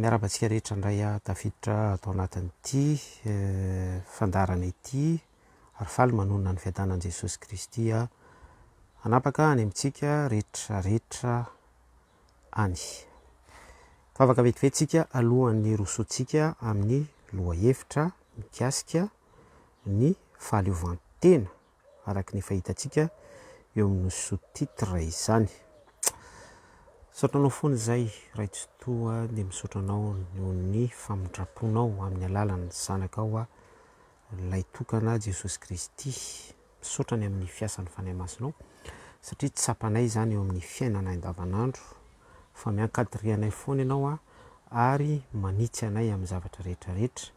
Miarahaba antsika rehetra indray aho tafiditra ato anatin'ity fandaharana ity ary faly manonona ny fiadanan'i Jesosy Kristy aho hanapaka any amintsika rehetra rehetra any. Vavaka vetivety tsika alohan'ny rosoantsika amin'ny lohahevitra mikasika ny fahaleovantena araka ny efa hitantsika eo amin'ny sous-titre izany. Misaotra anao foana izay Raitsitoa dia misaotra anao noho ny famindraponao amin'ny alalan'ny zanakao aho ilay tokana Jesosy Kristy. Misaotra ny amin'ny fiasan'ny Fanahy Masinao satria tsapanay izany eo amin'ny fiainanay andavanandro fa miankadirianay foana ianao ary manitsy anay amin'ny zavatra rehetra rehetra.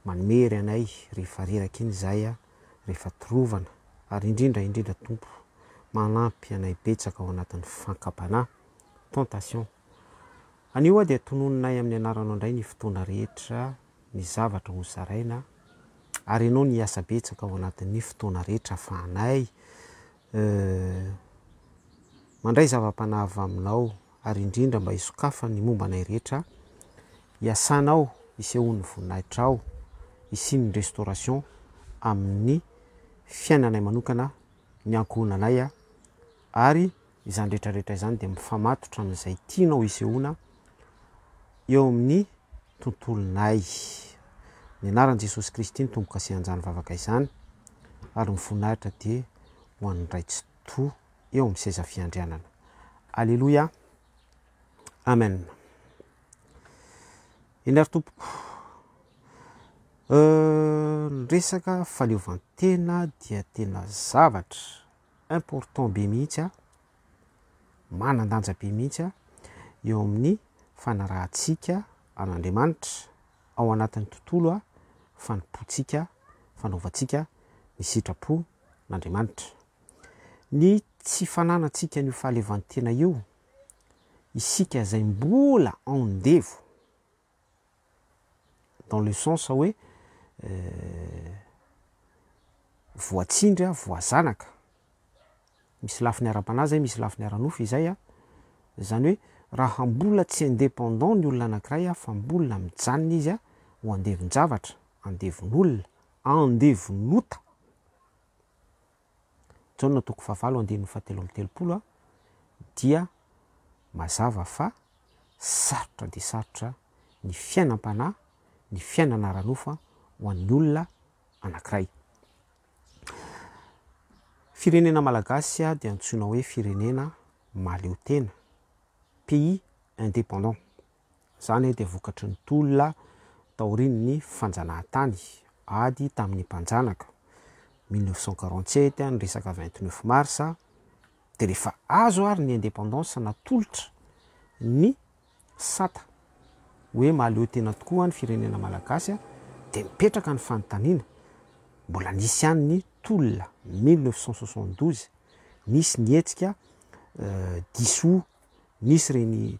Manome hery anay rehefa reraka iny izahay a, rehefa torovana, ary indrindra indrindra Tompo manampy anay betsaka ao anatin'ny fankam-panahy, tentation. Anio aho dia tononinay amin'ny anaranao indray ny fotoana rehetra, ny zavatra ho zaraina, ary ianao ny hiasa betsaka ao anatin'ny fotoana rehetra afahanay Euh. Mandray zava-panahy avy aminao ary indrindra mba hisokafa ny momba anay rehetra, iasanao isehoan'ny voninahitrao, isian'ny restauration amin'ny fiainanay manokana, ny ankohonanay ary izany rehetra rehetra izany dia mifamatotra amin'izay tianao isehoana eo amin'ny tontolonay. Ny anaran'i Jesosy Kristy ny tombo-kasihan'izany vavaka izany, ary ny voninahitra dia ho an'ny Ray Tsitoha eo amin'ny seza fiandrianana. Aleloia. Amen. Eny ary tompoko. Euh, ny resaka faleovantena dia tena zavatra important be mihitsy a. manan-danja be mihitsy eo amin'ny fanarahantsika an'Andriamanitra ao anatin'ny tontolo fanompoantsika, fanaovantsika ny sitrapon'Andriamanitra. Ny tsy fananantsika an'io fahaleovantena io, isika izay mbola andevo, dans le sens hoe voatsindry aho, voazanaka, misy lafiny ara-panahy izay, misy lafiny ara-nofo izay an, izany hoe raha mbola tsy indépendant ny olona anakiray an, fa mbola mijanona izy an, ho andevon-javatra, andevon'olona, andevon'ota, Jaona toko fahavalo andininy fahatelo amby telopolo dia mazava fa sarotra dia sarotra ny fiainam-panahy, ny fiainana ara-nofo ho an'ny olona anankiray. Firenena malagasy dia antsoina hoe firenena mahaleo tena, pays indépendant. Izany dia vokatry ny tolona taorian'ny fanjanahantany, ady tamin'ny mpanjanaka, mille neuf cent quarante sept, ny resaka vingt neuf mars, dia rehefa azo ary ny indépendance natolotra ny sata hoe mahaleo tena tokoa ny firenena malagasy dia mipetraka ny fanontaniana, mbola nisy ihany ny tolona mille neuf cent soixante douze, nisy ny hetsika diso Nisy ireny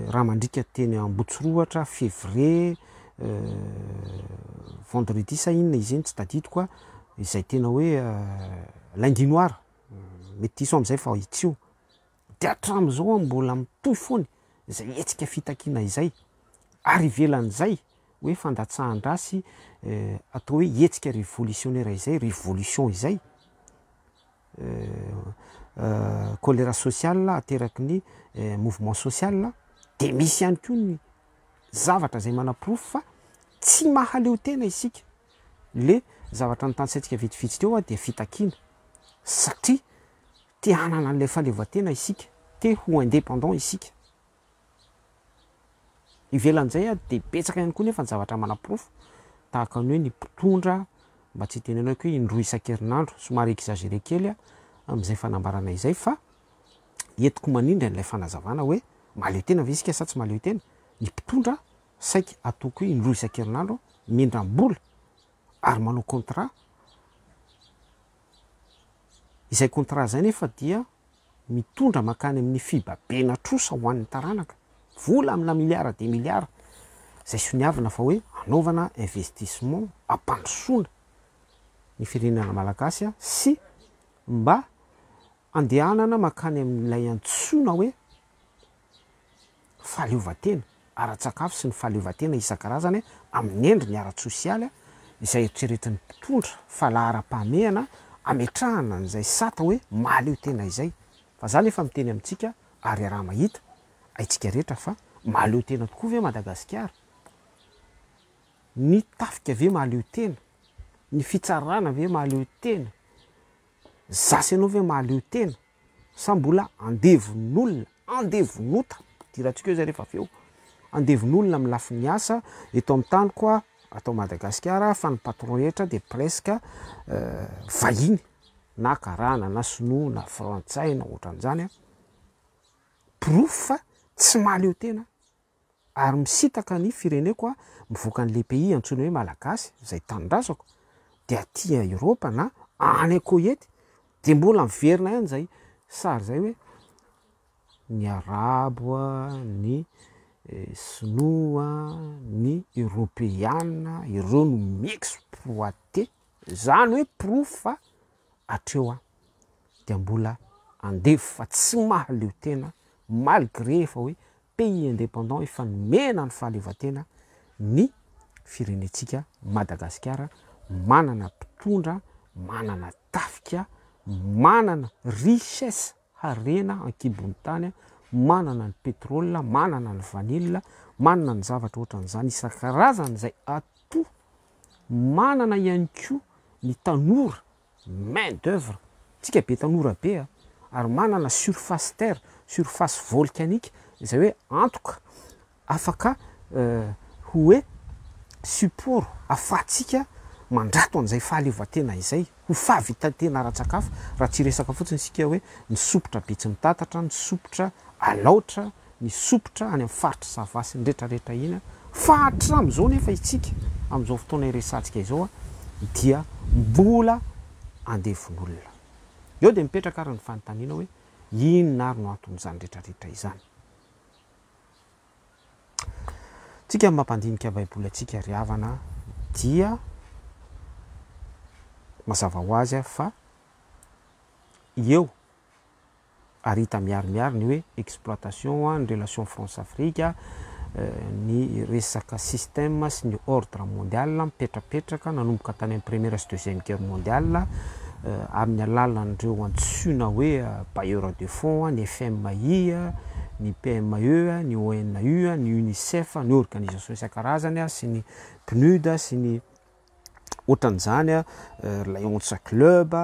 raha mandriaka teny Ambotsirohatra, février, vendredi sa inona izy iny tsy tadidiko a, izay tena hoe lundi noir, mety diso aho amin'izay fa itsy io, de hatramin'izao aho mbola mitohy foana izay hetsika fitakiana izay, ary ivelan'izay hoe fandatsahan-dra sy atao hoe hetsika revolisionera izay, révolution izay. choléra social ateraky ny mouvement social dia misy ihany koa ny zavatra izay manaporofo fa tsy mahaleo tena isika le zavatra notanisaintsika vitsivitsy teo dia fitakiana satria te hanana an'ilay fahaleovantena isika te ho indépendant isika Ivelan'izay ary dia betsaka ihany koa nefa ny zavatra manaporofo tahaka ny hoe ny mpitondra, mba tsy hitenenako hoe indroa isan-kerinandro, somary exagéré kely aho amin'izay fanambarana izay fa entiko manindry an'ilay fanazavana hoe mahaleo tena ve isika sa tsy mahaleo tena? ny mpitondra saika ataoko hoe indroa isan-kerinandro mindram-bola ary manao contrat, Izay contrat izay nefa dia mitondra mankany amin'ny fibabiana trosa ho an'ny taranaka, vola amina milliards des milliards izay soniavina fa hoe hanaovana investissement hampandrosoana ny firenena malagasy sy mba Andehanana mankany amin'ilay antsoina hoe fahaleovantena ara-tsakafo sy ny fahaleovantena isan-karazany amin'ny endriny ara-tsosialy izay eritreretin'ny mpitondra fa laharam-pahamehana ametrahana an'izay sata hoe mahaleo tena izay. Fa za nefa miteny amintsika ary iaraha mahita, haintsika rehetra fa mahaleo tena tokoa ve Madagasikara? Ny tafika ve mahaleo tena? Ny fitsarana ve mahaleo tena? Za sy ianao ve mahaleo tena sa mbola andevon'olona, andevon'ota, idirantsika eo izay rehefa avy eo, andevon'olona amin'ny lafiny asa eto amin'ny taniko aho ato Madagasikara fa ny patron rehetra dia presque vahiny na karana na sinoa na frantsay na ohatran'izany, porofo fa tsy mahaleo tena Ary misitaka ny fireneko aho mivoaka an'ilay pays antsoina hoe Malagasy izay tanindrazako dia aty Europe na any an-kohety dia mbola miverina ihany izay sary izay hoe ny Arabo a, ny Sinoa a, ny Europeana ireo no mi-exploiter izany hoe porofo fa hatreo an dia mbola andevo fa tsy mahaleo tena malgré efa hoe pays indépendant efa nomena ny fahaleovantena ny firenentsika Madagasikara manana mpitondra manana tafika manana richesse harena an-kibon'ny tany, manana ny pétrole, manana ny vanille, manana ny zavatra ohatran'izany isan-karazany izay atout manana ihany koa ny tanora, main d'oeuvre, tsika be tanora be a, ary manana surface terre, surface volcanique, izay hoe antoka Afaka ho hoe support afahantsika mandrato an'izay fahaleovantena izay ho fahavitan-tena ara-tsakafo raha tsy hiresaka fotsiny isika hoe ny sompitra Betsimitantatra, ny sompitra Alaotra, ny sompitra any amin'ny faritr'i Sava sy ny retraretra iny fa hatramin'izao nefa istsika amin'izao fotoana iresantsika izao dia mbola andevon'olona. Eo dia mipetraka ary ny fanontaniana hoe inona ary no anton'izany retraretra izany? Tsika ny mampandinika baiboly antsika ry havana dia mazava ho azy fa eo ary hita miharimiary ny hoe exploitation ny relation France Afrique ny resaka système sy ny ordre mondial mipetrapetraka nanomboka tany amin'ny première sy deuxième guerre mondiale amin'ny alalan'ireo antsoina hoe bailleurs de fonds, ny FMI, ny PME, ny ONU, ny UNICEF, ny organisation isan-karazany sy ny PNUD sy ny ohatran'izany, Lion's Club,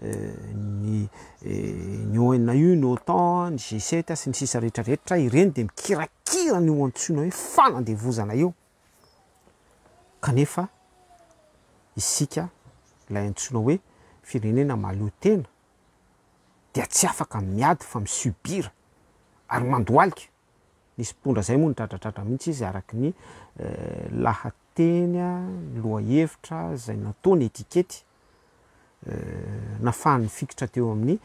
ny ny ONU, ny OTAN, ny G7 sy ny sisa rehetra rehetra, ireny dia mikirakira an'io antsoina hoe fanandevozana io. Kanefa isika, ilay antsoina hoe firenena mahaleo tena, dia tsy afaka miady fa mi-subir ary mandohalika. Nisy mpitondra izay moa nitradratradra mihitsy izy araka ny lahateny, ny lohahevitra izay nataony etikety. nafahany nifikitra teo amin'ny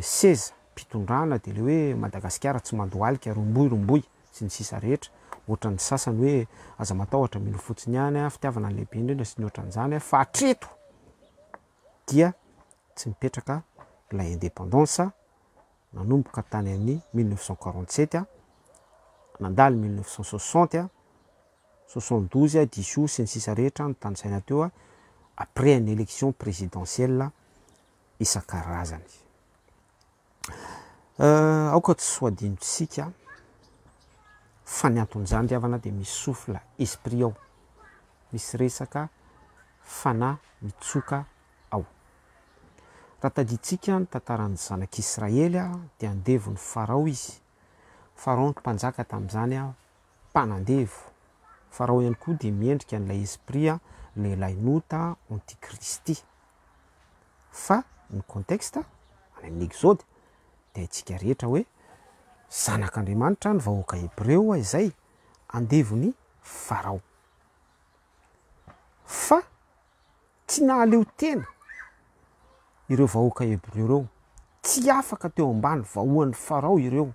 seza mpitondrana dia le hoe Madagasikara tsy mandohalika, romboy romboy sy ny sisa rehetra, ohatran'ny sasany hoe aza matahotra mino fotsiny ihany aho, fitiavana no lehibe indrindra sy ny ohatran'izany fa hatreto dia tsy mipetraka ilay indépendance nanomboka tany amin'ny mille neuf cent quarante sept nandalo mille neuf cent soixante soixante douze, diso sy ny sisa rehetra notanisaina teo après ny élection présidentielle isan-karazany. Aoka tsy ho adinontsika fa ny anton'izany ry havana dia misy souffle esprit ao, misy resaka fanahy mitsoka ao. Raha tadidintsika ny tantaran'ny zanak'Israely dia andevo ny Farao izy, Farao no mpanjaka tamin'izany an, mpanandevo. Farao ihany koa dia miendrika an'ilay esprit an, lehilahy nota antikristy. Fa ny contexte any amin'ny Exode dia haintsika rehetra hoe zanak'Andriamanitra ny vahoaka hebreo izay andevon'i Farao. Fa. Tsy nahaleo tena ireo vahoaka Hebreo ireo. Tsy afaka teo ambany vahoan'i Farao ireo.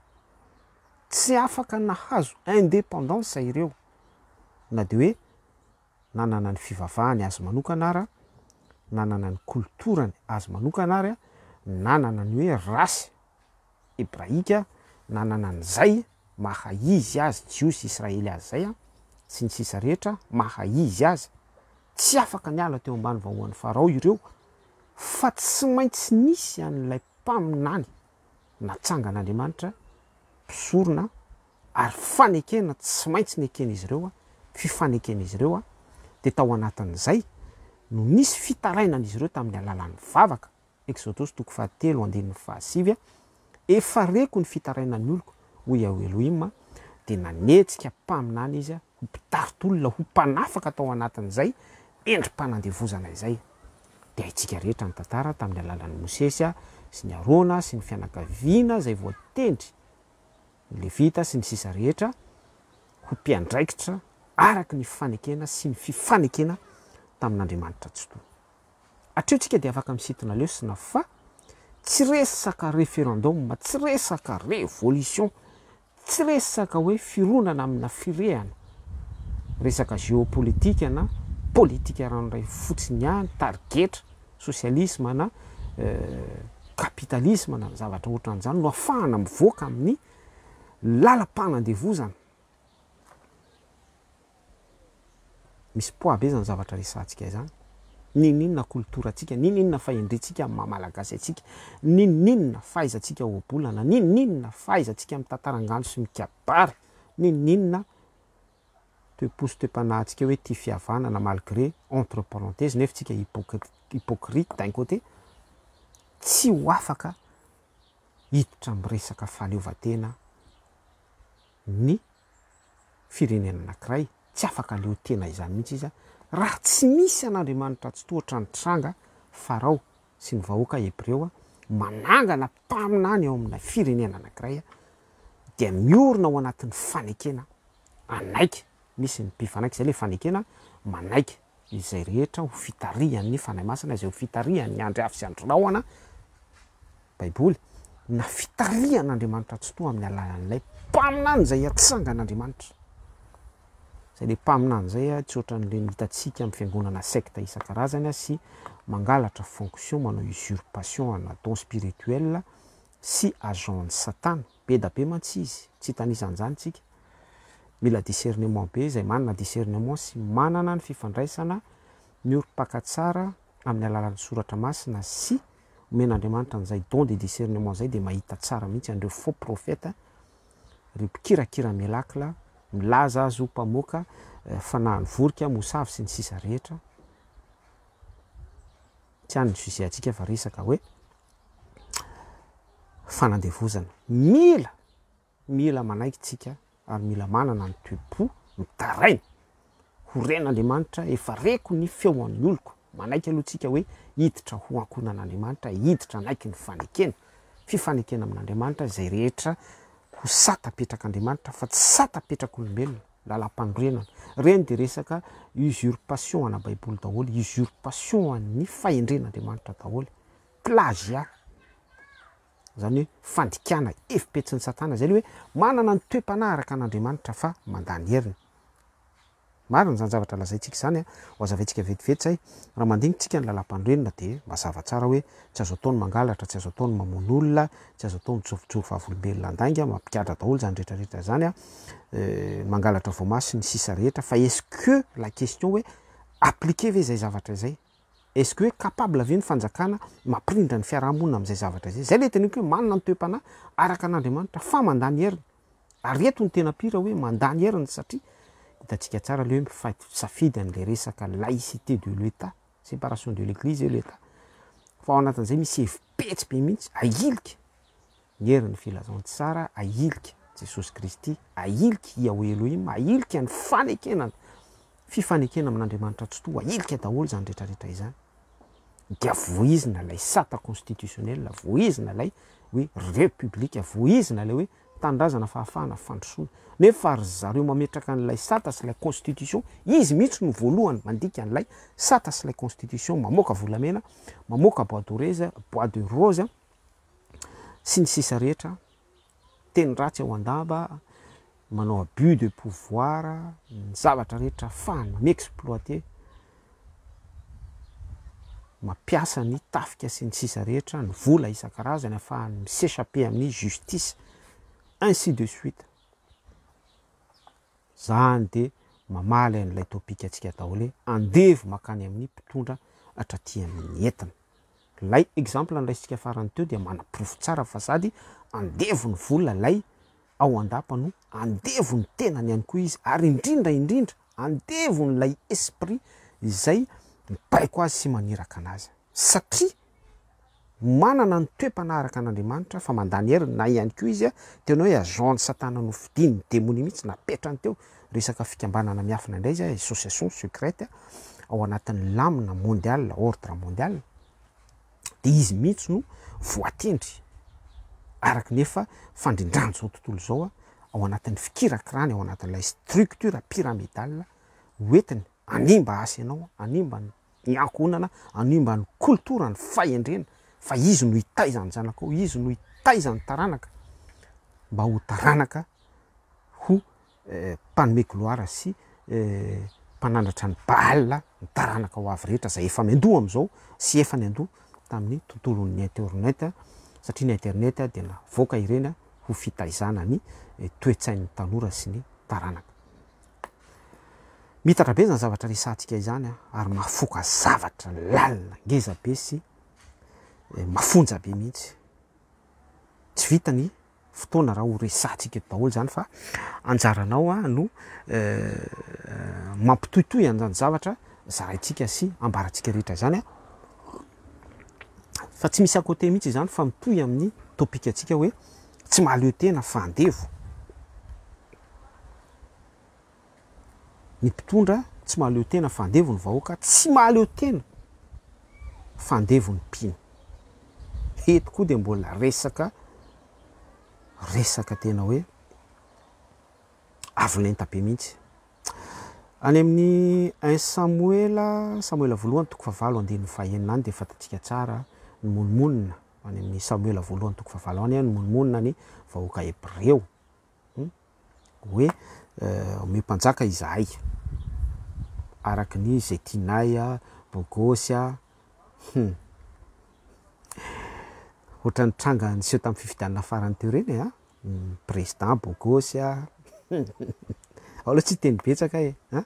Tsy afaka nahazo indépendance ireo, na dia hoe nanana ny fivavahany azy manokana ara, nanana ny kolotorany azy manokana ary, nanana ny hoe race. hebraika nanana an'izay maha izy azy Jiosy Israely azy izay an, sy ny sisa rehetra maha izy azy, tsy afaka niala teo ambany vahoan'i Farao ireo fa tsy maintsy nisy an'ilay mpaminany natsangan'Andriamanitra mpisorona ary fanekena tsy maintsy neken'izy ireo fifaneken'izy ireo dia tao anatin'izay no nisy fitarainan'izy ireo tamin'ny alalan'ny vavaka Eksodosy toko fahatelo andininy fahasivy, Efa reko ny fitarainan'ny oloko, hoy Yahweh Elohim, dia nanetsika mpaminany izy ho mpitari-tolona, ho mpanafaka tao anatin'izay endri-panandevozana izay. Dia haintsika rehetra ny tantara tamin'ny alalan'i Mosesy sy ny Arona sy ny fianakaviana izay voatendry, ny Levita sy ny sisa rehetra, ho mpiandraikitra araka ny fanekena sy ny fifanekena tamin'Andriamanitra Tsitoha. Hatreo tsika dia afaka misintona lesona fa tsy resaka referendum, tsy resaka révolution, tsy resaka hoe fironana amina firehana, resaka géopolitique na politika ranoray fotsiny ihany, tarigetra, socialisme na capitalisme na zavatra ohatran'izany no afahana mivoaka amin'ny lalam-panandevozana. Misy poids be zany zavatra resahantsika izany. N'inon'inona kolotorantsika, n'inon'inona fahendrentsika amin'ny maha Malagasy antsika, n'inon'inona fahaizantsika ohabolana, n'inon'inona fahaizantsika mitantara angano sy mikabary, n'inon'inona toe-po sy toe-panahintsika hoe tia fihavanana malgré entre parenthèses nefa tsika hypocrite d'un côté, tsy ho afaka hiditra amin'ny resaka fahaleovantena ny. firenena anankiray, tsy afaka leo tena izany mihitsy izy raha tsy misy an'Andriamanitra Tsitohatra nitranga Farao sy ny vahoaka Hebreo manangana mpaminany ao amina firenena anankiray dia miorina ao anatin'ny fanekena hanaiky, misy ny mpifanaiky, izay ilay fanekena manaiky. Izay rehetra ho fitarihan'ny Fanahy Masina, izay ho fitarihan'ny Andry Afo sy Andry Rahona, Baiboly, na fitarihan'Andriamanitra Tsitoha amin'ny alalan'ilay Mpaminany izay atsangan'Andriamanitra. Izay ilay Mpaminany izay tsy ohatran'ilay hitantsika amin'ny fiangonana secte isan-karazany sy mangalatra fonction, manao usurpation ana don spirituel sy agent-n'i satana, be da be mantsy izy, tsy hitanisa an'izany tsika, mila discernement be izay manana discernement sy manana ny fifandraisana miorim-paka tsara amin'ny alalan'ny soratra masina sy omen'Andriamanitra an'izay don de discernement izay dia mahita tsara mihitsy an'ireo faux prophète, ireo mpikirakira miracle, milaza azy ho mpamoaka fanahin'ny vorika, mosavy sy ny sisa rehetra, tsy any ny sujet antsika fa resaka hoe fanandevozana. Mila, mila manaiky tsika ary mila manana ny toe-po mitaraina. Ho ren'Andriamanitra, efa reko ny feo an'ny oloko. Manaiky aloha tsika hoe hiditra ho ankohonan'Andriamanitra, hiditra hanaiky ny fanekena. Fifanekena amin'Andriamanitra izay rehetra ho sata-petrak'Andriamanitra fa tsy sata-petrak'olombelona. Lalampanorenana. Ireny dia resaka usurpation ana baiboly daholo, usurpation an'ny fahendren'Andriamanitra daholo. Plagiat. Izany hoe fandikana evi-petsin'i satana. Izay ilay hoe manana ny toe-panahy araka an'Andriamanitra fa mandany heriny. Marina izany zavatra lazaintsika izany a. Ho azavaintsika vetivety izay. Raha mandinitrika ny lalampanorenana dia mazava tsara hoe tsy azo atao ny mangalatra, tsy azo atao ny mamono olona, tsy azo atao ny mijorojoro vavolombelona handainga, mampigadra daholo izany rehetra rehetra izany a. mangalatra voamaha sy ny sisa rehetra fa est-ce que la question hoe appliquer ve izay zavatra izay? Est-ce que hoe capable ve ny fanjakana mampirindra ny fiarahamonina amin'izay zavatra izay? Izay ilay teneniko hoe manana ny toe-panahy araka an'Andriamanitra fa mandany heriny. Ary eto ny tena pire hoe mandany heriny satria hitantsika tsara ilay hoe mifaito-tsafidy an'ilay resaka laïcité de l'Etat, séparation de l'Eglise et l'Etat. Fa ao anatin'izay misy hevi-petsy be mihitsy ahilika. Ny herin'ny filazantsara ahilika Jesosy Kristy, ahilika Yahweh Elohim, ahilika ny fanekena ny fifanekena amin'Andriamanitra Tsitoha, ahilika daholo izany rehetrarehetra izany. Dia voizina ilay sata constitutionnel, voizina ilay hoe repoblika, voizina ilay hoe tanindrazana fahafahana fandrosoana. Nefa ry zareo mametraka an'ilay sata sy ilay constitution, izy mihitsy no voalohany mandika an'ilay sata sy ilay constitution, mamoaka volamena, mamoaka bois de rose, bois de rose, sy ny sisa rehetra, teny ratsy ao an-damba, manao abus de pouvoir, ny zavatra rehetra ahafahany mi-exploiter, mampiasa ny tafika sy ny sisa rehetra, ny vola isan-karazany ahafahany mi-s'echapper amin'ny justice, ainsi de suite. Izany dia mamaly an'ilay topikantsika atao hoe andevo mankany amin'ny mpitondra hatraty amin'ny entana. Ilay exemple noraisintsika farany teo dia manaporofo tsara fa sady andevo ny vola ilay ao an-dapa no andevo ny tenany ihany koa izy ary indrindra indrindra andevo n'ilay esprit izay mibaiko azy sy maniraka anazy satria manana ny toe-panaraka an'Andriamanitra fa mandany heriny na ihany koa izy tena hoe agent-n'i satana nofidin'ny demonia mihitsy napetrany teo resaka fikambanana miafina indray izay, association secrète ao anatin'ny lamina mondial, ordre mondial, dia izy mihitsy no voatendry araka ny efa fandrindran'izao tontolo izao ao anatin'ny fikirakirany ao anatin'ilay structure pyramidale hoentiny hanimba asa ianao, hanimba ny ny ankohonana hanimba ny koltora, ny fahendrena, fa izy no hitaiza ny zanaka ao, izy no hitaiza ny taranaka mba ho taranaka ho eh, mpanome gloire sy eh, mpanandratra ny Baal ny taranaka ho avy rehetra izay efa miandoha amin'izao sy efa niandoha tamin'ny tontolon'ny internet satria ny internet dia navoaka ireny ho fitaizana ny eh, toe-tsain'ny tanora sy ny taranaka. Mitatra be izany zavatra resahantsika izany an, ary mahafoka zavatra lalina ngeza be sy mafonja be mihitsy. Tsy vita ny fotoana raha ho resahantsika eto daholo izany fa anjaranao no mampitohitohy an'izany zavatra zaraintsika sy ambarantsika rehetra izany an. Fa tsy misy à côté mihitsy izany fa mitohy amin'ny topic antsika hoe tsy mahaleo tena fa andevo. Ny mpitondra tsy mahaleo tena fa andevo ny vahoaka tsy mahaleo tena fa andevo ny mpino. Eto koa dia mbola resaka resaka tena hoe avo lenta be mihitsy. Any amin'ny 1 Samoela, Samoela voalohany toko fahavalo andininy fahenina any dia fantatsika tsara ny monomonina any amin'ny Samoela voalohany toko fahavalo any ny monomonina ny vahoaka hebreo. hoe omeo mpanjaka izahay araka ny izay tianay a, bôgôsy a, hum ohatran'ny tranga niseho tamin'ny fifidianana farany teo ireny e, an, président bôgôsy a, ao aloha tsy hiteny betsaka e, an,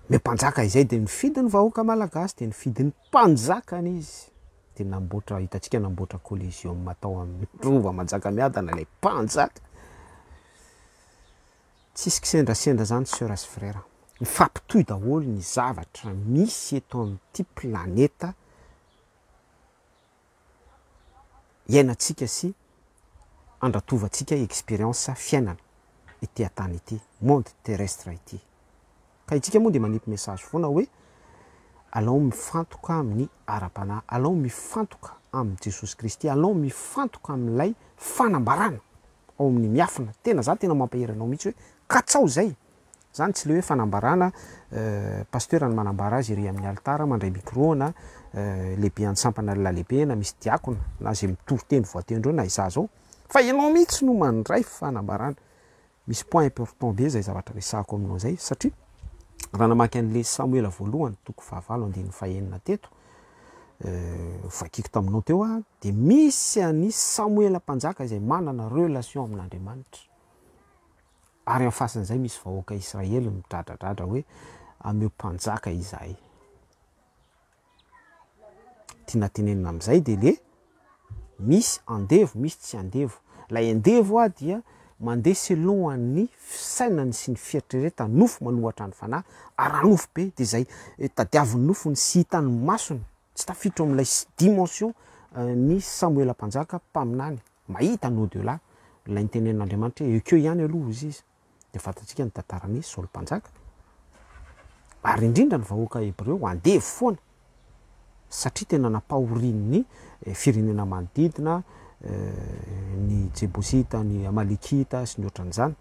omeo mpanjaka izay dia nifidy ny vahoaka malagasy dia nifidy ny. Mpanjakany izy dia namboatra, hitantsika namboatra Coliseum tao amin'ny Rova Manjakamiadana ilay mpanjaka. Tsisy kisendrasendra zany sœur sy frère. Mifampitohy daholo ny zavatra misy eto amin'ity planeta iainantsika sy andratovantsika expérience fiainana ity an-tany ity, monde terrestre ity. Ka itsika moa dia manipy message foana hoe alao mifantoka amin'ny ara-panahy, alao mifantoka amin'i Jesosy Kristy, alao mifantoka amin'ilay fanambarana ao amin'ny miafina, tena zany tena mampahery anao mihitsy hoe katsao izay e! Izany tsy le hoe fanambarana, Pasteur no manambara azy ery amin'ny alitara, mandray micro na lehibean'ny sampana lalehibe na misy diakona na izay mitory teny voatendry eo na izaho izao, fa ianao mihitsy no mandray fanambarana, misy point important be izay zavatra resahako aminao izay satria raha namaky an'le Samoela voalohany toko fahavalo andininy fahenina teto vakiko taminao teo aho dia misy an'i Samoela mpanjaka izay manana relation amin'Andriamanitra. Ary amin'ny fasin'izay misy vahoaka Israely midradradradra hoe, Ameo mpanjaka izahay. Tiana tenenina amin'izay dia le misy andevo, misy tsy andevo. Ilay andevo ah dia mandeha selon an'ny fisainany sy ny fieritreretany, nofo manohatra ny fanahy, ara-nofo be, dia izay tadiavin'ny nofony sy hitan'ny masony Tsy tafiditra ao amin'ilay dimension ny Samoela Mpanjaka mpaminany mahita ny au delà, ilay nitenenin'Andriamanitra hoe ekeo ihany aloha hozy izy, dia fantatsika ny tantaran'i Saoly Mpanjaka, ary indrindra ny vahoaka hebreo andevo foana satria tena nampahorian'ny firenena manodidina ny Jebosita, ny Amalekita sy ny ohatran'izany,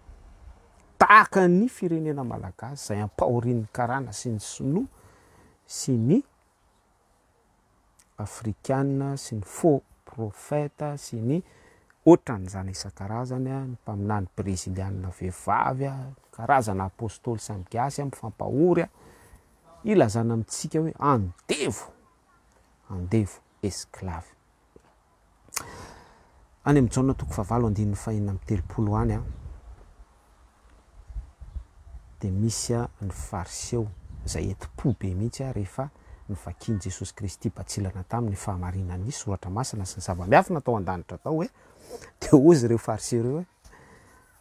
tahaka ny firenena malagasy izay ampahorian'ny Karana sy ny Sinoa sy ny afrikana sy ny faux prophète sy ny otran'izany isan-karazany, ny mpaminany breziliana vehivavy, karazana apostoly samy gasy mifampahory ilazana amintsika hoe andevo, andevo, esclave. Any amin'ny Jaona toko fahavalo andininy fahenina amby telopolo any dia misy ny Fariseo izay enti-po be mihitsy rehefa novakian'i Jesosy Kristy batsilana taminy ny fahamarinan'ny Soratra Masina sy ny zava-miafina tao an-danitra tao hoe, dia hozy ireo Fariseo ireo hoe,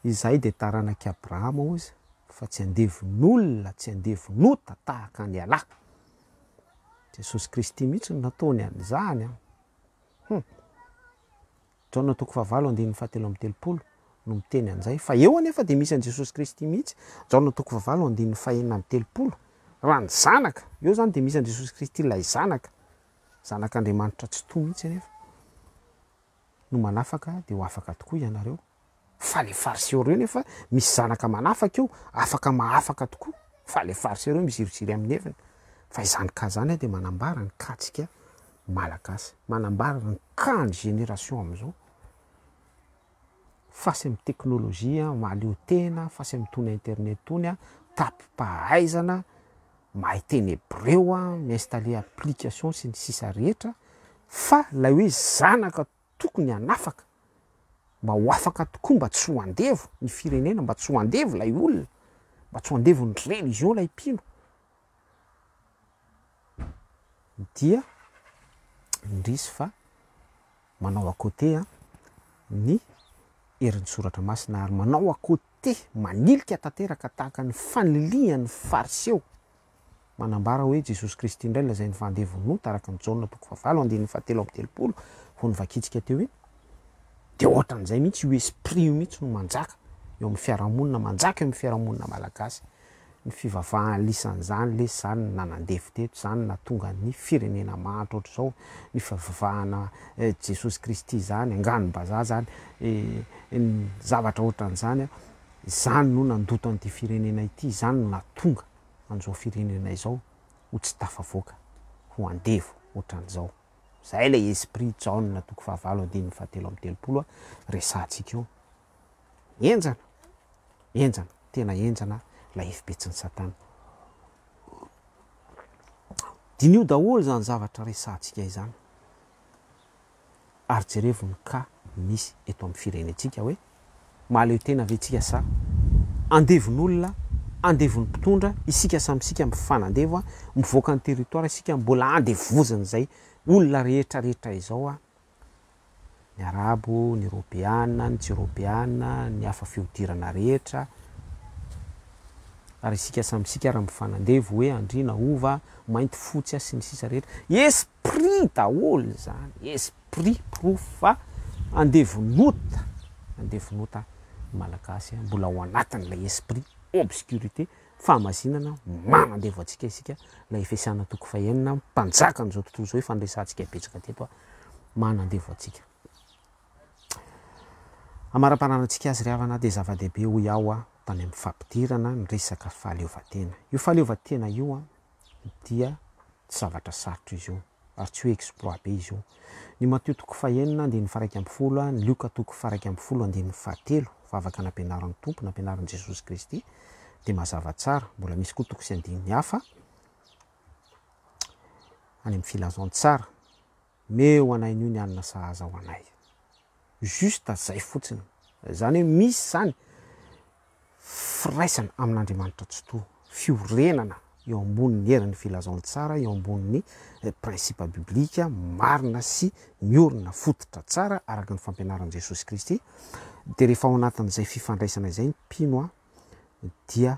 Izahay dia taranak'i Abrahama hozy fa tsy andevon'olona, tsy andevon'ota tahaka an'ialahy. Jesosy Kristy mihitsy no nataony an'izany. Hum. Jaona toko fahavalo andininy fahatelo amby telopolo no miteny an'izay. Fa eo anefa dia misy an'i Jesosy Kristy mihitsy, Jaona toko fahavalo andininy fahenina amby telopolo, raha ny Zanaka. Eo izany dia misy an'i Jesosy Kristy ilay Zanaka, Zanak'Andriamanitra Tsitoha mihitsy anefa. No manafaka dia ho afaka tokoa ianareo. Fa le fariseo reo nefa misy zanaka manafaka eo afaka mahafaka tokoa fa le fariseo reo miziriziry aminy heviny fa izany cas zany a de manambara ny cas tsika malagasy manambara ny cas ny génération amizao face aminy technologie a mahaleo tena face aminy tony internet tony a tapim-pahaizana mahay teny hebreo a mi installer application sy ny sisa rehetra fa lay hoe zanaka Tokony hanafaka mba ho afaka tokoa mba tsy ho andevo ny firenena mba tsy ho andevo ilay olona mba tsy ho andevo ny religion ilay mpino dia indrisy fa manao à côté an ny herin'ny soratra masina ary manao à côté manilika tanteraka tahaka ny fanilihan'ny fariseo Manambara hoe Jesosy Kristy indray lazainy fa handeha vonota araka ny Jaona toko fahavalo andininy fahatelo amby telopolo vao novakintsika teo iny dia ohatran'izay mihitsy io esprit io mihitsy no manjaka eo amin'ny fiarahamonina manjaka eo amin'ny fiarahamonina malagasy ny fivavahan'lisan'izany lesy izany no nanandevo teto izany nahatonga ny firenena mahantra ohatr'izao ny fivavahana Jesosy Kristy izany anganom-bazaha izany ny zavatra ohatran'izany izany no nandoto an'ity firenena ity izany no nahatonga an'izao firenena izao ho tsy tafavoaka, ho andevo ohatran'izao. Izay ilay esprit Jaona toko fahavalo andininy fahatelo amby telopolo resahantsika eo. Henjana, henjana, tena henjana ilay hevi-petsin'i Satana. Diniho daholo izany zavatra resahantsika izany. Ary jerevo ny cas misy eto amin'ny firenentsika hoe mahaleo tena ve tsika sa andevon'olona, andevon'ny mpitondra, isika samy isika mifanandevo a, mivoaka ny territoire isika mbola andevozin'izay olona rehetra rehetra izao a, ny arabo, ny ropeana, ny tsy ropeana, ny hafa fihodirana rehetra, ary isika samy isika ary mifanandevo hoe andriana, hova, mainty, fotsy a sy ny sisa rehetra. Esa! Prix daholo izany, esprit porofo fa andevon'ota, andevon'ota ny Malagasy a, mbola ao anatin'ilay esprit obscurité, fahamazinana, manandevo antsika isika, ilay fiasana toko fahenina, mpanjaka an'izao tontolo izao ifandresantsika betsaka teto a, manandevo antsika. Amaramparanantsika azy ry havana dia zava-dehibe hoy aho a, tany amin'ny fampidirana ny resaka fahaleovantena. Io fahaleovantena io a, dia tsy zavatra sarotra izy io ary tsy hoe exploit be izy io. Ny Matio toko fahenina andininy faharaika ambin'ny folo, ny Lioka toko faharaika ambin'ny folo andininy fahatelo, vavaka nampianarin'ny Tompo, nampianarin'i Jesosy Kristy, dia mazava tsara. Mbola misy koa toko sy andininy hafa any amin'ny Filazantsara. Meo anay nio ny alina sahaza ho anay. Juste zay fotsiny. Zany hoe misy zany firaisana amin'Andriamanitra Tsitoha, fiorenana eo ambonin'ny herin'ny Filazantsara, eo ambonin'ny principe biblique marina sy miorina fototra tsara araka ny fampianaran'i Jesosy Kristy, dia rehefa ao anatin'izay fifandraisana izay ny mpino a, dia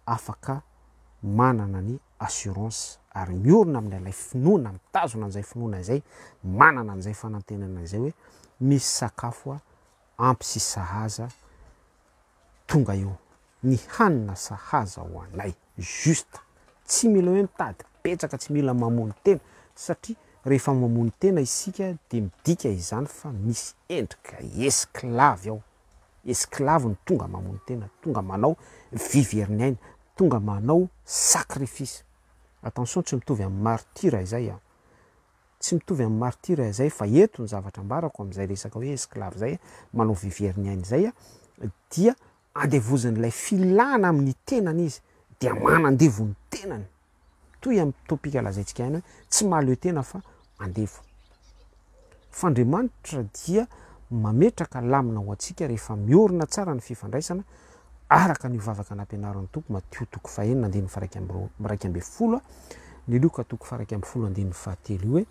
afaka manana ny assurance ary miorina amin'ny ilay finoana, mitazona an'izay finoana izay, manana an'izay fanantenana izay hoe misy sakafo a ampy sy sahaza tonga eo, ny hanina sahaza ho anay, juste, tsy mila hoe mitady betsaka, tsy mila mamono tena satria rehefa mamono tena isika dia midika izany fa misy endrika esclave ao. Esclave no tonga mamono tena, tonga manao viverniaina, tonga manao sacrifice. Attention tsy mitovy amin'ny martyrs izay an! Tsy mitovy amin'ny martyrs izay fa eto ny zavatra ambarako amin'izay resaka hoe esclave izay, manao viverniaina izay an, dia andevozin'ilay filana amin'ny tenany izy dia manandevo ny tenany. toy amin'ny topic lazaintsika ihany hoe tsy mahaleo tena fa andevo fa Andriamanitra dia mametraka lamina ho antsika rehefa miorina tsara ny fifandraisana araka an'io vavaka nampianarin'ny Tompo Matio toko fahenina andininy faraika miraika ambin'ny folo ny Lioka toko faraika ambin'ny folo andininy fahatelo io hoe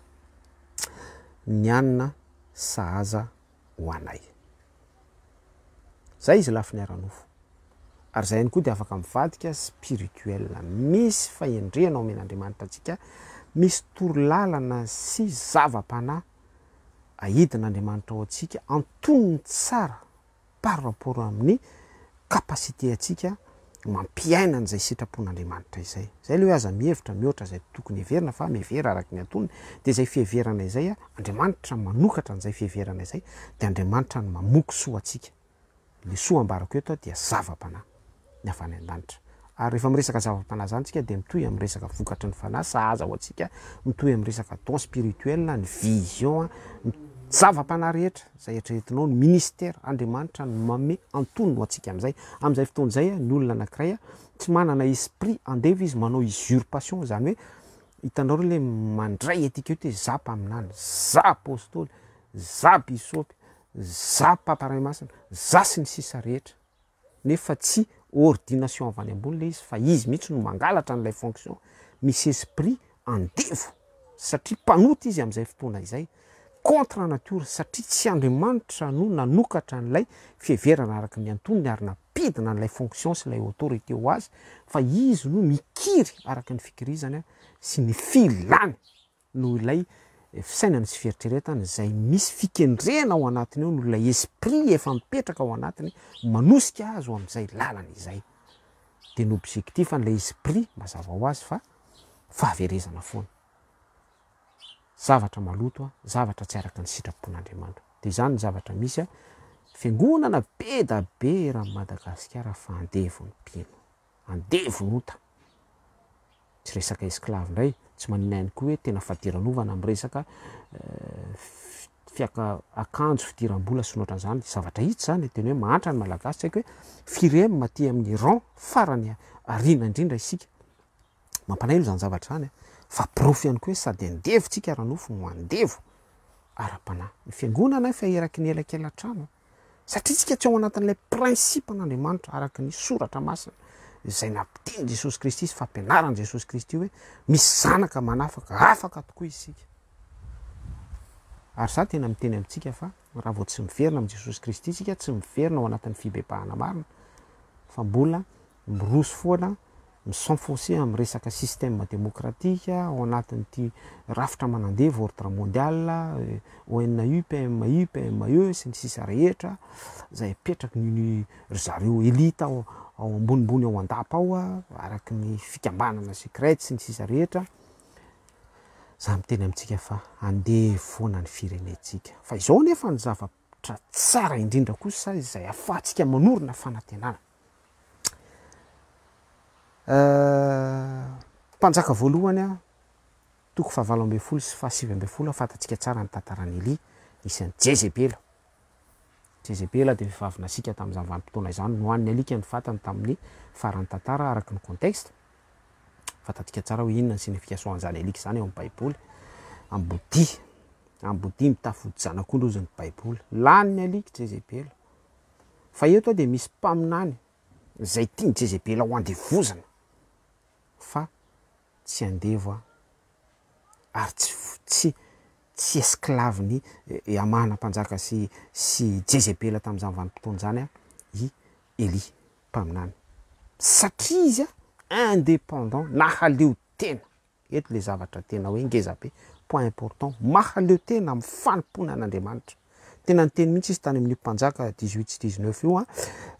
ny anina sahaza ho anay. Zay izy lafiny ara-nofo. Ary zay ihany koa dia afaka mivadika spirituel. Misy fahendrena omen'Andriamanitra antsika, misy torolalana sy zava-panahy ahidin'Andriamanitra ao antsika, antonony tsara par rapport amin'ny capacité antsika mampiaina an'izay sitrapon'Andriamanitra izay. Izay ilay hoe aza mihevitra mihoatra izay tokony heverina fa mihevera araka ny antonony, dia izay fiheverana izay Andriamanitra manokatra an'izay fiheverana izay dia Andriamanitra no mamoky soa antsika. Ilay soa ambarako eto dia zava-panahy ny avy any an-danitra. Ary rehefa miresaka zava-panahy zany tsika dia mitohy amin'ny resaka vokatry ny fanahy sahaza ho antsika mitohy amin'ny resaka don spirituel, ny vision, ny zava-panahy rehetra izay eritreretinao, ny ministère, Andriamanitra no manome antonony ho antsika amin'izay. Amin'izay fotoana izay ny olona anankiray tsy manana esprit andevo izy manao usurpation izany hoe hitanareo ilay mandray antika eto hoe za mpaminany, za apostoly, za bisopy, za papa ray masina, za sy ny sisa rehetra. nefa tsy ordination avy any ambony ilay izy fa izy mihitsy no mangalatra an'ilay fonction, misy esprit andevo satria mpanota izy amin'izay fotoana izay, contre nature satria tsy Andriamanitra no nanokatra an'ilay fiheverana araka ny antonony ary nampidina an'ilay fonction sy ilay autorité ho azy fa izy no mikiry araka ny fikirizany sy ny filany. noho ilay fisainana sy fieritreretana izay misy fikendrena ao anatiny ao, noho ilay esprit efa mipetraka ao anatiny, manosika azy ho amin'izay lalana izay. Dia ny objectif an'ilay esprit, mazava ho azy fa fahaverezana foana. Zavatra maloto, zavatra tsy araka ny sitrapon'Andriamanitra. Dia izany ny zavatra misy, fiangonana be da be eran'i Madagasikara fa andevo ny mpino. andevo ota. Tsy resaka esclave ndray, tsy manina ihany koa hoe tena fadiranovana amin'ny resaka fiaka akanjo, fidiram-bola sy ny otran'izany. Zavatra hita izany, ny teny hoe mahantra ny malagasy, tsy haiko hoe firy eo aty amin'ny rang farany aoriana indrindra isika. Mampalahelo izany zavatra izany an! Fa porofo ihany koa hoe sady andevo tsika ara-nofo no andevo ara-panahy. Ny fiangonana efa eraky ny elakelan-trano. Satria isika tsy ao anatin'ilay principe-n'Andriamanitra araka ny soratra masina izay nampitin'i Jesosy Kristy sy fampianaran'i Jesosy Kristy hoe misy zanaka manafaka, afaka tokoa isika. Ary za tena miteny amintsika fa raha vao tsy miverina amin'i Jesosy Kristy isika, tsy miverina ao anatin'ny fibebahana marina, fa mbola miroso foana, mi-s'enfoncer amin'ny resaka système démocratique ao anatin'ity rafitra manandevo ordre mondial, ONU, PMI, PME sy ny sisa rehetra, izay apetraky ny ny ry zareo elite ao ao ambonimbony ao an-dapa ao, araky ny fikambanana secrète sy ny sisa rehetra, za miteny amintsika fa andevo foana ny firenentsika. Fa izao anefa ny zava-. Ohatra tsara indrindra kosa izay ahafahantsika manorina fanantenana. Mpanjaka voalohany, toko fahavalo ambin'ny folo sy fahasivy ambin'ny folo, fantatsika tsara ny tantaran'i Elia, nisy an'i Jezebela. Jezebela dia vehivavy nasiaka tamin'izany vanim-potoana izany, nohanin'ny alika ny vatany tamin'ny faran'ny tantara araka ny contexte. Fantantsika tsara hoe inona ny signification an'izany alika izany ao amin'ny Baiboly. Ambodia. Ambodia mitafy odi-janak'ondry hozy ny Baiboly. Lany ny alika Jezebela. Fa eto dia misy mpaminany izay tian'i Jezebela ho andevozina fa tsy andevo ary tsy tsy tsy esclave ny eh, Hamana mpanjaka sy sy Jezebela tamin'izany vanim-potoana izany i Elia. mpaminany satria izy indépendant na haleo tena eto ilay zavatra tena hoe ngeza be point important mahaleo tena amin'ny fanompoana an'Andriamanitra tena niteny mihitsy izy tany amin'io mpanjaka 18 sy 19 io a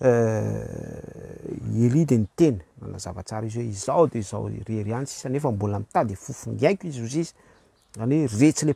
euh, i Elia dia niteny nanazava tsara izy hoe izao dia izao irery ihany sisa nefa mbola mitady fofony aiko izy ozizy izany hoe retsy le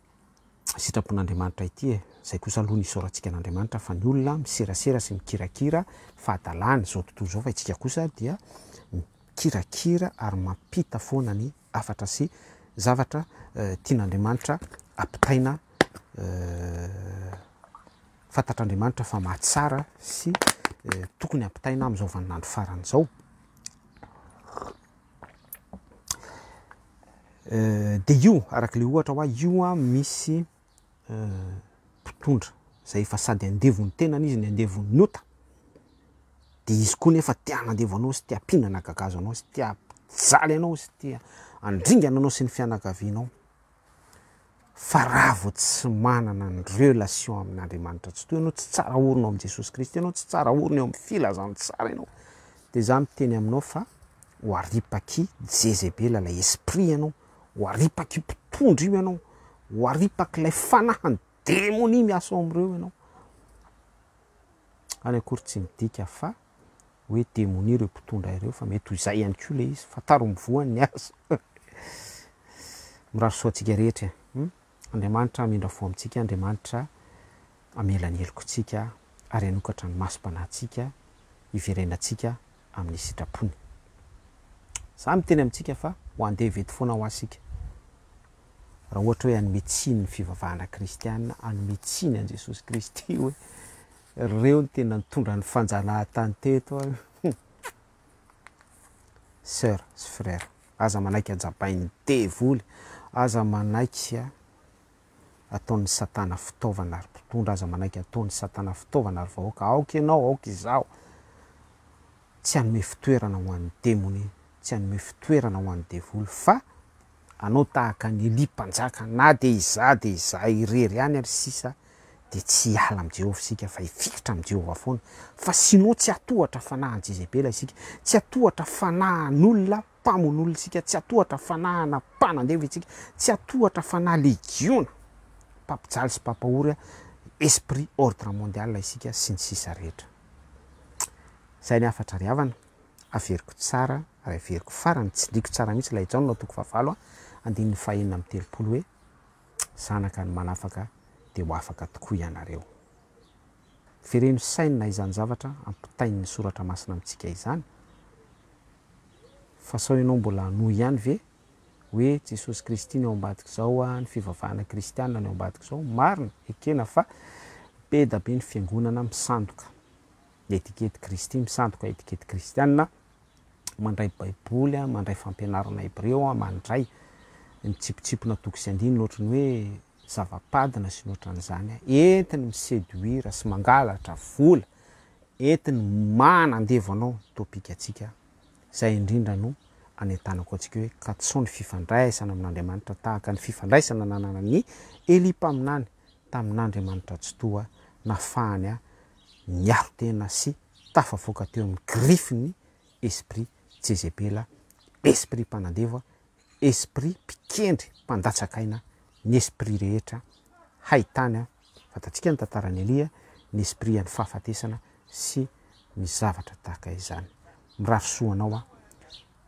sitrapon'Andriamanitra ity e! Izay kosa aloha no isaorantsika an'Andriamanitra fa ny olona miserasera sy mikirakira fahadalany izao tontolo izao fa itsika kosa dia mikirakira ary mampita foana ny hafatra sy zavatra tian'Andriamanitra ampitaina fantatr'Andriamanitra fa mahatsara sy tokony ampitaina amin'izao vaninandro farany izao. Euh, dia io araka ilay ohatra hoa io a misy euh, mpitondra izay efa sady andevo ny tenany izy ny andevo ny ota dia izy koa nefa tia hanandevo anao sy tia mpinana gagazo anao sy tia mpijaly anao sy tia andringana anao sy ny fianakavianao Fa raha vao tsy manana ny relation amin'Andriamanitra tsy toy anao, tsy tsara orina ao amin'i Jesosy Kristy ianao, tsy tsara orina eo amin'ny filazantsara ianao, dia izaho miteny aminao fa ho aripak'i Jezebela ilay esprit ianao, ho aripak'io mpitondra io ianao, ho aripak'ilay fanahin'ny demonia miasa ao amin'ireo ianao. Any akory tsy midika fa hoe demonia ireo mpitondra ireo fa mety ho izay ihany koa ilay izy. Fantaro ny voany ny azy. Mirary soa antsika rehetra. Hmm? Andriamanitra hamindra fo amintsika, Andriamanitra hamela ny helokontsika ary hanokatra ny masom-panahintsika hiverenantsika amin'ny sitrapony. Za miteny amintsika fa ho andevo eto foana ho asika. Raha ohatra hoe hanome tsiny ny fivavahana kristiana, hanome tsiny an'i Jesosy Kristy hoe Reo no tena nitondra ny fanjanahatany teto an! Hum! Soeur sy frère, aza manaiky ajabain'ny devoly, aza manaiky ataon'ny satana fitaovana ry mpitondra, aza manaiky ataon'ny satana fitaovana ry vahoaka, aoka ianao, aoka izaho, tsy hanome fitoerana ho an'ny demonia, tsy hanome fitoerana ho an'ny devoly fa Anao tahaka an'i Elia mpanjaka, na dia izaho dia izaho irery ihany ary sisa, dia tsy hiala amin'i Jehovah isika fa hifikitra amin'i Jehovah foana. Fa sinoa tsy hatohatra fanahin'i Jezebela isika, tsy hatohatra fanahin'olona mpamono olona isika, tsy hatohatra fanahina mpanandevo isika, tsy hatohatra fanahy legiona mpampijaly sy mpampahory esprit ordre mondial isika, sy ny sisa rehetra. Izay ny hafatra ry havana. Averiko tsara ary averiko farany, tsindriko tsara mihitsy ilay Jaona ao toko fahavalo andininy fahenina amby telopolo hoe, Zanaka ny manafaka dia ho afaka tokoa ianareo. Vereno saina izany zavatra ampitain'ny Soratra Masina amintsika izany, fa sao ianao mbola hanohy ihany ve hoe Jesosy Kristy no eo ambadik'izao, ny fivavahana kristiana no eo ambadik'izao. Marina, ekena fa be da be ny fiangonana misandoka. Etikety Kristy misandoka etikety kristiana Mandray Baiboly a Mandray fampianarana hebreo a Mandray Mitsipitsipona toko sy andininy ohatry ny hoe zava-padina sy ny ohatran'izany a Entiny mi-seduire sy mangalatra vola Entiny manandevo anao ny topik'antsika Izay indrindra no anentanako antsika hoe katsoho ny fifandraisana amin'Andriamanitra tahaka ny fifandraisana nananan'i Elia mpaminany tamin'Andriamanitra Tsitoha nafahany a niaro tena sy tafavoaka teo amin'ny grifin'ny esprit tsezepela, esprit mpanandevo, esprit mpikendry mpandatsak'aina, ny esprit rehetra haitany, fantatsika ny tantaran'i Elia, ny esprit an'ny fahafatesana sy ny zavatra tahaka izany. Mirary soa anao aho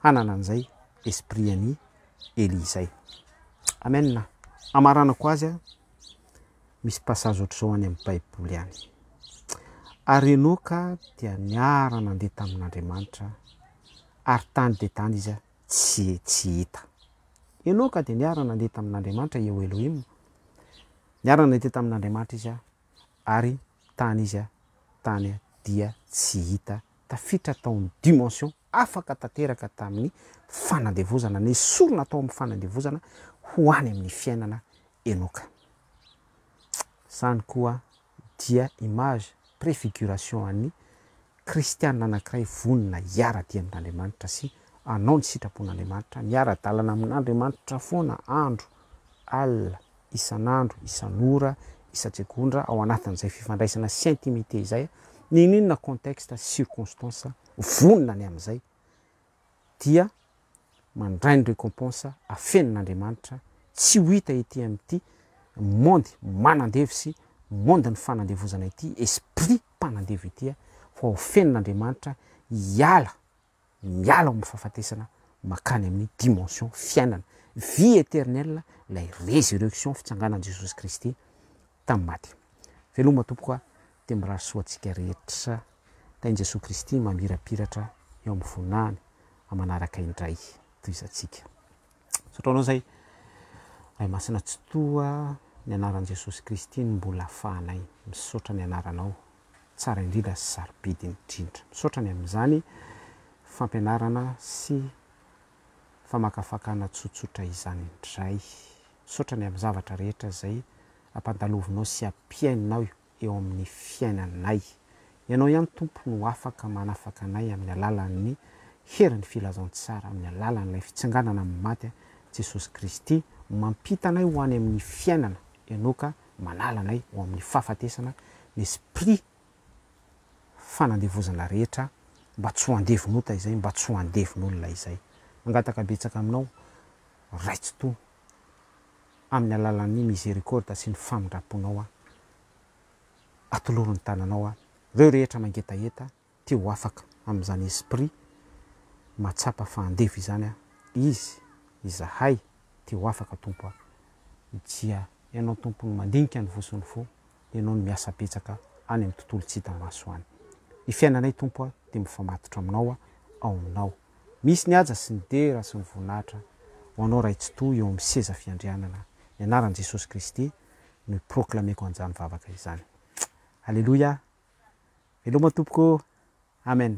hanana an'izay esprit an'i Elia izay. Amen. Amaranako azy aho. Misy passage ohatr'izao any amin'ny Baiboly any. Ary Enoka dia niara-nandeha tamin'Andriamanitra, ary tany dia tany izy tsy, tsy hita. Enoka dia niara-nandeha tamin'Andriamanitra, Eo Elohim. Niara-nandeha tamin'Andriamanitra izy, ary tany izy, tany dia tsy hita. Tafiditra tao amin'ny dimension afaka tanteraka tamin'ny fanandevozana, nesorina tao amin'ny fanandevozana ho any amin'ny fiainana Enoka. Izany koa dia image, préfiguration an'ny kristiana anankiray vonona hiara-dia amin'Andriamanitra sy hanao ny sitrapon'Andriamanitra, miara-dalana amin'Andriamanitra foana andro alina, isan'andro, isan'ora, isan-tsegondra ao anatin'izay fifandraisana sy intimité izay, n'inon'inona contexte, circonstance, vonona ny amin'izay. dia mandray ny recompense afenin' Andriamanitra tsy ho hita ety amin'ity monde manandevo sy monde ny fanandevozana ity esprit mpanandevo ity a fa ho fenin' Andriamanitra hiala miala ao amin'ny fahafatesana makany amin'ny dimension fiainana vie eternelle ilay resurrection fitsanganan'i Jesosy Kristy tamin'ny maty. Veloma tompoko a! Dia mirary soa antsika rehetra kay ny Jesoa Kristy mamirapiratra eo amin'ny voninahiny amanaraka indray tohizantsika. Misaotra anao zay Ray Masina Tsitoha ny anaran'i Jesosy Kristy no mbola afahanay misaotra ny anaranao tsara indrindra sy sarobidy indrindra. Misaotra ny amin'izany fampianarana sy famakafakana tsotsotra izany indray. Misaotra ny amin'ny zavatra rehetra izay ampandalovinao sy ampihainao eo amin'ny fiainanay. Ianao ihany Tompo no afaka manafaka anay amin'ny alalan'ny herin'ny filazantsara, amin'ny alalan'ilay fitsanganana amin'ny maty an'i Jesosy Kristy, mampita anay ho any amin'ny fiainana, Ianao ka manala anay ho amin'ny fahafatesana, ny Esprit fanandevozana rehetra mba tsy ho andevon'ota izay, mba tsy ho andevon'olona izay. Mangataka betsaka aminao Ray Tsitoha amin'ny alalan'ny misericorda sy ny famindramponao aho, atoloro ny tananao aho, ireo rehetra mangetaheta te ho afaka amin'izany esprit mahatsapa fa andevo izany aho, izy, izahay te ho afaka Tompo a. Dia Ianao Tompo no mandinika ny voso ny fo, ianao no miasa betsaka any amin'ny tontolo tsy hita maso any. Ny fiainanay Tompo a dia mifamatotra aminao a ao aminao misy ny haja sy ny dera sy ny voninahitra ho anao Ray Tsitoha eo amin'ny seza fiandrianana ny anaran'i Jesosy Kristy no hi-proclameko an'izany vavaka izany Aleloia veloma Tompoko Amen.